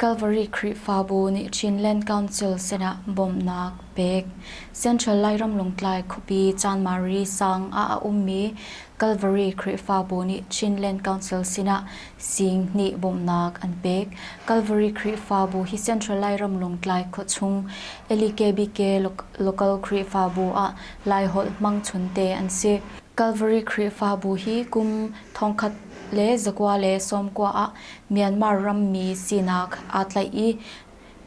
Kalvari Khrihfabu nih Chinland Council sinah bawmhnak pek. Central Lairam Lungtlai khuapi Chanmari sang ah a ummi Kalvari Khrihfabu nih Chinland Council sinah Singhni bawmhnak an pek. Kalvari Khrihfabu hi Central Lairam Lungtlai khuachung LEKBK Local Khrihfabu ah Laiholh hmangchun te an si. Kalvari Khrihfabu hi kum thongkhat le zakua le sawmkua ah Myanmar rammi sinak aa tlaih i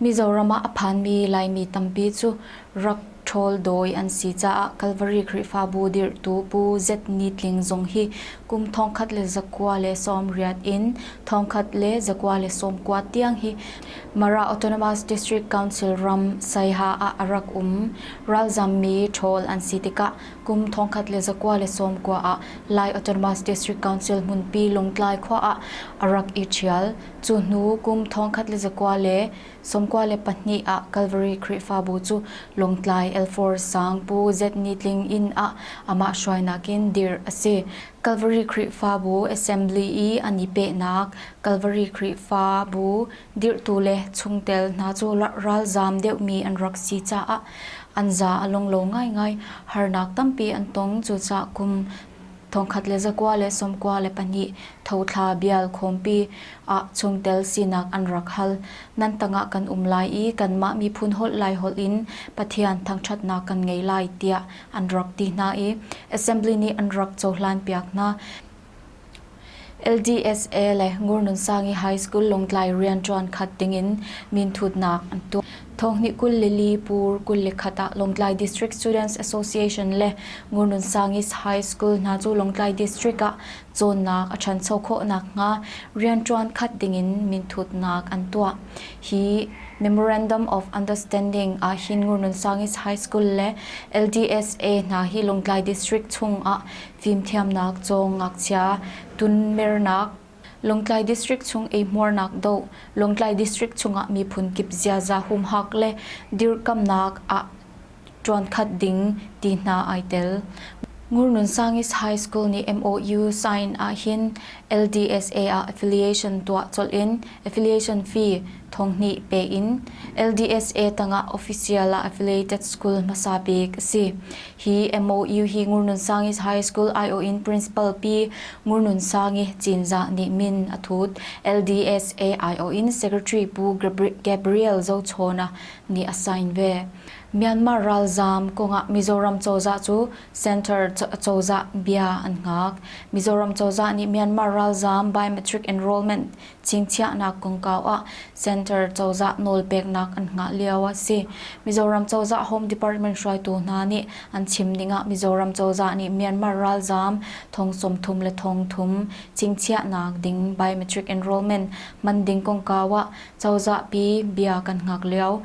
Mizoram ah a phanmi Laimi tampi cu rak ṭhawl dawi an si caah Kalvari Khrihfabu dirhtu Pu Zetni Tling zong hi kum thongkhat le zakua le sawmriat in thongkhat le zakua le sawmkua tiang hi Mara Autonomous District Council ram Saiha ah a rak um. Ralzammi ṭhawl an si tikah Kum thongkhat le zakua le sawmkua ah Lai Autonomous District Council hmunpi Lungtlai khua ah a rak i ṭhial. Cu hnu kum thongkhat le zakua le sawmkua le pahnih ah Calvary Khrihfabu cu Lungtlai Elfor Sang Pu Zetni Tling inn ah amah hruainak in dirh a si. Calvary Khrihfabu Assembly i an i pehnak Calvary Khrihfabu Dirhtu le chungtel hna cu ralzaam deuhmi an rak si caah an za a lawng lo ngaingai. Harnak tampi an tong. Cucaah kum thongkhat le zakua le sawmkua le pahnih thothla bial khawmpi ah chungtel sinak an rak hal. Nan tangah kan um lai i kanmah miphun holh lai holh in Pathian thangṭhatnak kan ngei lai tiah an rak ti hna i assembly nih an rak cohlanpiak hna. LDSA le Ngurnunsangi High School Lawngtlai rian ṭuan khat dingin minthutnak an tuah. Thonghni kul le li pur kul le khat ah Lawngtlai District Students Association le Ngurnunsangi High School hna cu Lawngtlai District ah cawnnak a ṭhancho khawh nakhnga rian ṭuan khat dingin minthutnak an tuah. Hi Memorandum of Understanding ahhin Ngurnunsangi High School le LDSA hna hi Lawngtlai District chung ah fimthiamnak cawng ngakchia, tunmernak, Lawngtlai District chung eihmuarnak doh, Lawngtlai District chungah miphun kip ziaza humhak le dirkamhnak ah ṭuankhat ding ti hna ai tel. Ngurnunsangis High School nih MOU sign ahhin LDSA ah affiliation tuah colh in affiliation fee thonghnih pe in LDSA tangah official ah affiliated school hmasa bik a si. Hi MOU hi Ngurnunsang High School aiawh in Principal Pi Ngurnunsangi Cinzah nih min a thut. LDSA aiawh in Secretary Pu Gabriel Zochawna nih a sign ve. Myanmar ralzaam kongah Mizoram cozah cu Center cozah bia an ngak. Mizoram cozah nih Myanmar ralzaam biometric enrollment Cingchiahnak kongkau ah Center cozah nawlpeknak an hngah lio a si. Mizoram cozah Home Department hruaitu hna nih an chim ning ah Mizoram cozah nih Myanmar ralzaam thong sawmthum le thong thum cingchiahnak ding biometric enrollment hman ding kongkau ah cozahpi bia kan hngak lio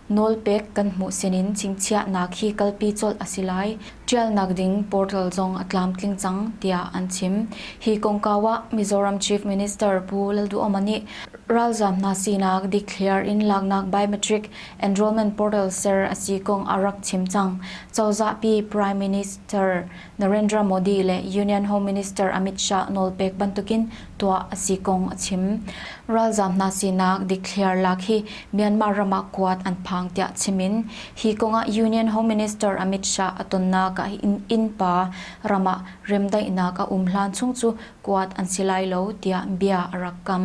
Nawlpek kan hmuh sinin chingchiahnak hi kalpi colh a si lai. Ṭialnak ding portal zong a tlamtling cang tiah an chim. Hi kongkau ah Mizoram Chief Minister Pu Lalduhoma nih ralzaam hna sinak declare in laknak biometric enrollment portal ser a si kong a rak chim cang. Cozahpi Prime Minister Narendra Modi le Union Home Minister Amit Shah nawlpek bantukin tuah a si kong a chim. Ralzam hna sinak declare lak hi Myanmar ram ah kuat an phang tiah chim in hi kongah Union Home Minister Amit Shah a tonnak ah innpa ram ah remdaihnak a um hlan chung cu kuat an si lai lo tiah bia a rak kam.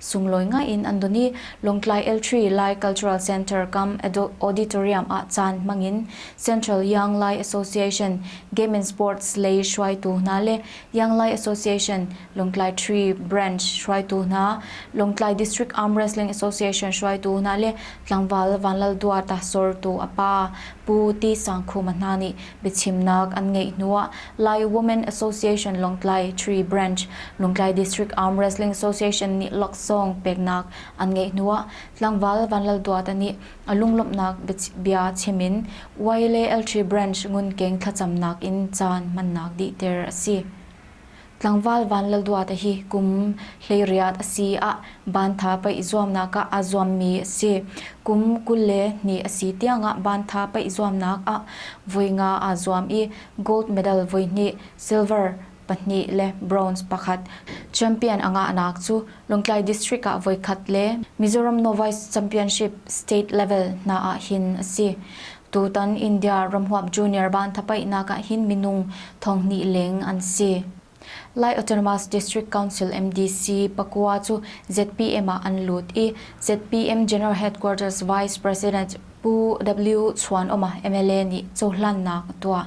Sunglawi ngaiin an don i Lawngtlai L3 Lai Cultural Centre kam Adult Auditorium ah caan hmangin Central Young Lai Association Game and Sports lei hruaitu hna le Young Lai Association Lawngtlai Tree Branch hruaitu hna, Lawngtlai District Arm Wrestling Association hruaitu hna le tlangval Vanlalduata sortu a pa Pu Ti Sangkhuma hna nih Biachimnak an ngeih hnuah Lai Women Association Lawngtlai Tree Branch, Lawngtlai District Arm Wrestling Association nih laksawng peknak an ngeih hnuah tlangval Vanlalduata nih a lunglawmhnak bia chim in Wyle Eltri Branch Ngunkeng thlacamnak in caan hmannak dihter a si. Tlangval Van Lal Duat hi kum hleiriat a si ah Bantha paih zuamnak ah aa zuammi a si. Kum kul le hnih a si tiangah Bantha paih zuamnak ah voi nga aa zuam i gold medal voihnih, silver pahnih le bronze pakhat. Champion a ngahnak cu Lawngtlai District ah voikhat le Mizoram Novice Championship state level hna ah hin a si. Tutan India ramhuap junior banthapaihnak ah hin minung thonghnih leng an si. Lai Autonomous District Council MDC pakua cu ZPM ah an lut i ZPM General Headquarters Vice President Pu W. Chuanawma mla nih cohlannak a tuah.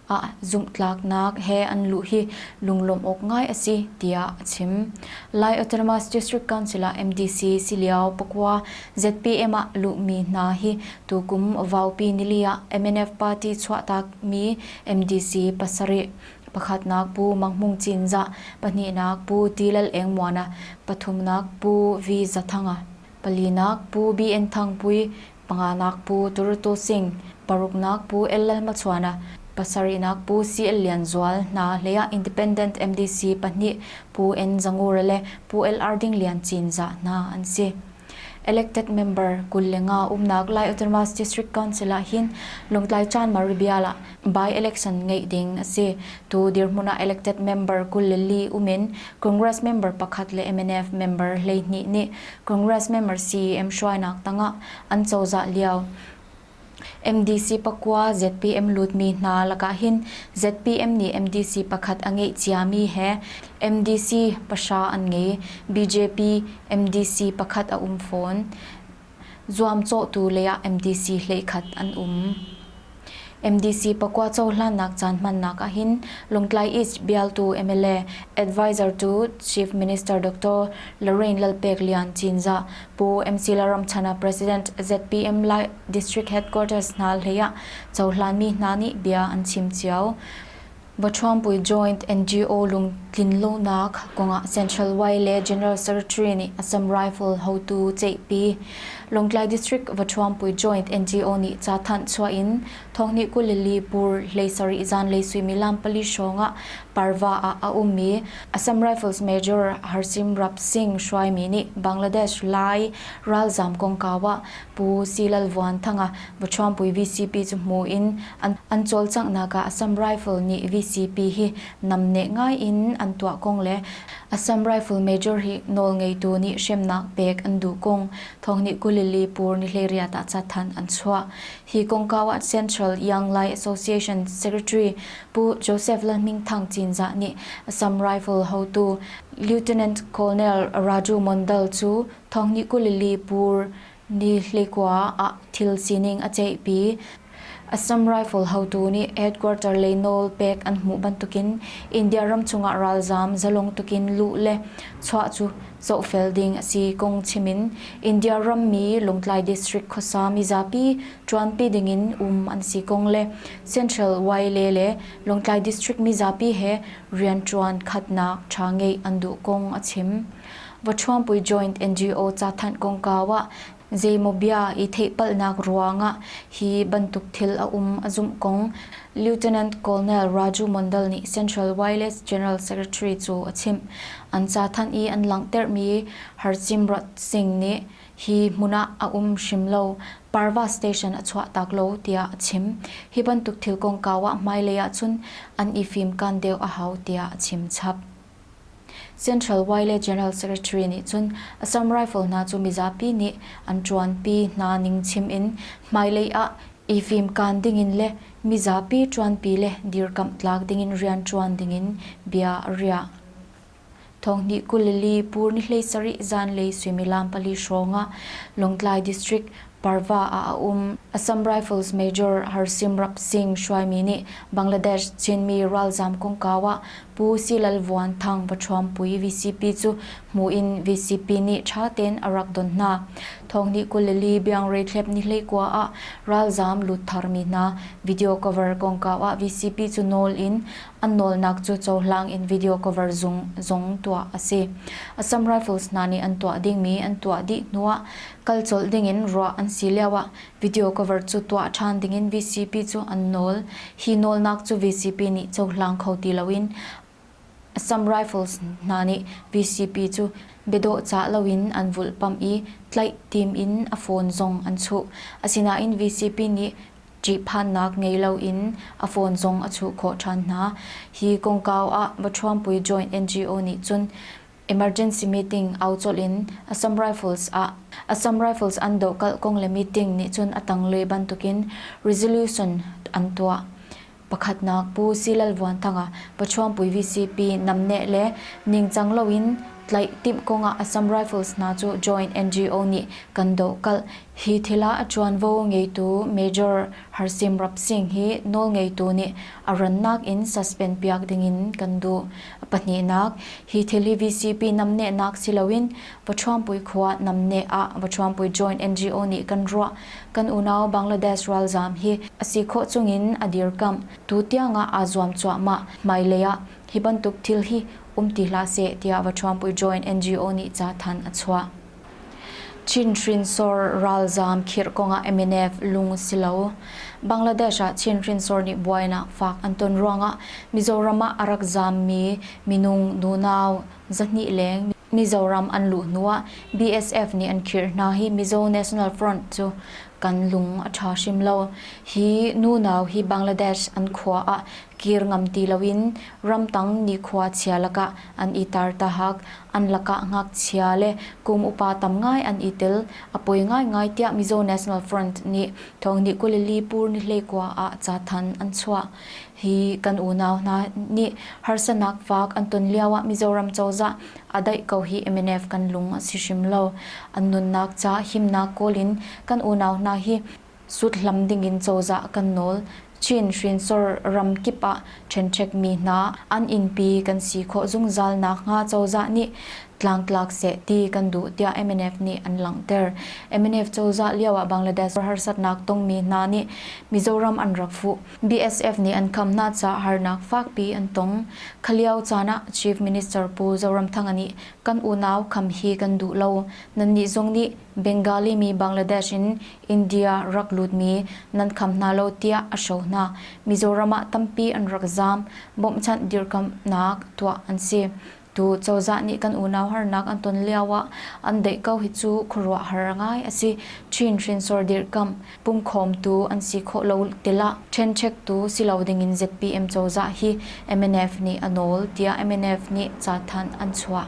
ah zumhtlaknak he an luh hi lunglawmh awk ngai a si tiah a chim. Lai Autonomous District Council ah MDC si lio pakua ZPM ah luhmi hna hi tukum vaupi nili ah MNF party chuahtakmi MDC pasarih pakhatnak Pu Mang Hmung Cinzah, pahnihnak Pu Ti Lal Eng Muana, pathumnak Pu V Za Thanga, palinak Pu BN Thang Pui, Panganak pu Turutu Singh, paruknak pu LL Machuana, pasarihnak pu CL Lian Zual hna hleiah Independent MDC pahnih Pu N Zangura le Pu LR Ding Lian Cinzah hna an si. Elected member kul le nga umnak Lai Autonomous District Council ah hin Lawngtlai Chan Mari Bial ah By-election ngeih ding a si. Tu dirhmun ah elected member kul le li um in Congress member pakhat le mnf member hleihnih nih Congress member CEM hruainak tangah an cozah lio MDC pakua ZPM lutmi hna lakah hin ZPM nih MDC pakhat a ngeih ciami he MDC pahra an ngei. BJP MDC pakhat a um fawn. zuamcawhtu lei ah MDC hleikhat an um. MDC pakua cohlannak caan hmannak ahhin Lawngtlai East bialtu MLA Advisor to Chief Minister Dr. Lorraine Lalpek Lian Cinzah Pu MC Laramchhana President ZPM Lai District Headquarters hna hlei ah cohlanmi hna nih bia an chim cio. Baṭhuangpui Joint NGO lungtlinlonak kongah Central Y le General Secretary nih Assam Rifle hotu ceihpi, Lawngtlai District Baṭhuangpui Joint NGO nih ca thanh chuah in thonghnih kul le li pur hlei sarih zanlei suimilam pali hrawng ah Parva ah a ummi Assam Rifles Major Harsimrap Singh hruaimi nih Bangladesh Lai ralzam kongkau ah Pu Si Lal Vuan Thanga, Bachuangpui VCP cu hmu in an cawlcanghnak ah Assam Rifle nih VCP hi namneh ngai in an tuah kong le Assam Rifle Major hi nawlngeitu nih hremnak pek an duh kong thawngnih kulili pur nihleiriat ah cathanh an chuah. Hi kongkau ah Central Young Lai Association Secretary Pu Joseph Lalhmingthang Cinzah nih Assam Rifle hotu Lieutenant Colonel Raju Mondal cu Thong nih Galilee pur ni hleikua ah thil sining a ceihpi. Assam Rifle hotu nih headquarter lei nawl pek an hmuh bantukin India ram chungah ralzaam zalong tukin luh le chuah cu zohfel ding a si kong chim in India rammi Lawngtlai district khuasa mizapi ṭuanpi dingin um an si kong le Central YLA le Lawngtlai district mizapi he rianṭuan khatnak ṭha ngeih an duh kong a chim. Vawṭhuangpui Joint NGO cathanh kongkau ah zeimaw bia i theihpalhnak ruangah hi bantuk thil a um a zumh kong Lieutenant Colonel Raju Mondal nih Central Wireless General Secretary cu a chimh. An cathanh i an langhtermi Harsimrat Singh nih hi hmun ah a um hrim lo, Parva Station a chuahtak lo tiah a chim. Hi bantuk thil kongkau ah hmailei ahcun an i fimkan deuh a hau tiah a chim chap. Central Y le General Secretary nih cun Assam rifle hna cu mizapi nih an ṭuanpi hna ning chim in hmailei ah i fimkaan dingin le mizapi ṭuanpi le dirkamh tlak dingin rianṭuan dingin bia a riah. Thonghnih kul li pur ni hleisarih zanlei suimilam pali hrawng ah Lawngtlai District Parva ah a um Assam Rifles Major Harsimrap Singh hruaimi nih Bangladesh Chinmi ralzam kongkau ah Pu Silal Vuan Thang Pahrawmpui VCP cu hmuh in VCP nih ṭha tein a rak don hna. Thawngnih kul le li biangreithlep nihlei kua ah ralzam lut tharmi hna video cover kongkau ah VCP cu nawl in an nawlnak cu cohlang in video cover zung zong tuah a si. Assam Rifles hna nih an tuah dingmi an tuah dih hnu ah kal colh dingin ruah an si lioah video cover cu tuah ṭhan dingin VCP cu an nawl. Hi nawlnak cu VCP nih cohlang kho ti loin Assam Rifles hna nih VCP cu biadawhcah loin an vulhpamh i tlaih tim in a phone zong an chuh. Asinain VCP nih ṭihphannak ngei loin a phone zong a chuh khawh ṭhan hna. Hi kongkau ah Baṭhuampui Joint NGO nih cun Emergency meeting au colh in Assam Rifles ah Assam Rifles an doh kalh kong le meeting nih cun a tanglei bantukin resolution an tuah. Pakhatnak Pu Silal Vuan Thanga Pachuangpui VCP namneh le ningcang loin tlaih timh kongah Assam Rifles hna cu joint NGO nih kan doh kalh. Hi thila a ṭuanvo ngeitu Major Harsim Rap Singh hi nawl ngeitu nih a rannak in suspend piak dingin kan duh. pahnihnak hi thelivcp namnehnak si loin Pawṭhuampui khua namneh ah Pawṭhuampui Joint NGO nih kan ruah. Kan unau Bangladesh ralzaam hi a si khawh chungin a dirkamh. Tutiang ah aa zuam cuahmah. Hmailei ah hi bantuk thil hi um ti hlah seh tiah Pawṭhuampui Joint NGO nih cathanh a chuah. Chin hrinsor ralzaam khirh kongah MNF lung a si lo. Bangladesh ah Chin hrinsor nih buainak faak an ton ruangah Mizoram ah a rak zaammi minung nunau zahnih leng Mizoram an luh hnuah BSF nih an khirh hna hi Mizo National Front cu kan lung a ṭha hrim lo. Hi nunau hi Bangladesh an khua ah kir ngam ti loin ramtang nikhua chia lakah an i tar tahak. An lakah ngakchia le kum upa tam ngai an i tel. A poi ngaingai tiah Mizo National Front nih Thawngnih Kulili Pur Nihleikua ah cathanh an chuah. Hi kan unau hna nih harsanak faak an ton lioah Mizoram cozah a daih ko hi mnf kan lung a si hrim lo. An nunnak ca himnak kawl in kan unau hna hi Suthlam dingin cozah kan nawl chin hrinsor ram kip ah ṭhenṭhekmi hna an innpi kan si khawh zungzal nakhnga cozah nih tlangtlak seh ti kan duh tiah mnf nih an langhter. Mnf cozah lioah Bangladesh harsatnak tongmi hna nih Mizoram an rak fuh. BSF nih an khamhnak caah harnak fakpi an tong. Khalio caan ah Chief Minister Pu Zoramthanga nih kan unau khamh hi kan duh lo, nannih zong nih Bengali mi Bangladesh in India rak lutmi nan kham hna lo tiah a hro hna. Mizoram ah tampi an rak zaam. Bawmhchanh dirkamhnak tuah an si. Tu cozah nih kan unau harnak an ton lio ah an deih ko hi cu khuaruahhar ngai a si. Chin hrinsor dirkamh pumkhawmtu an si khawh lo tilah ṭhenchektu si lo dingin ZPM cozah hi MNF nih a nawl tiah MNF nih cathanh an chuah.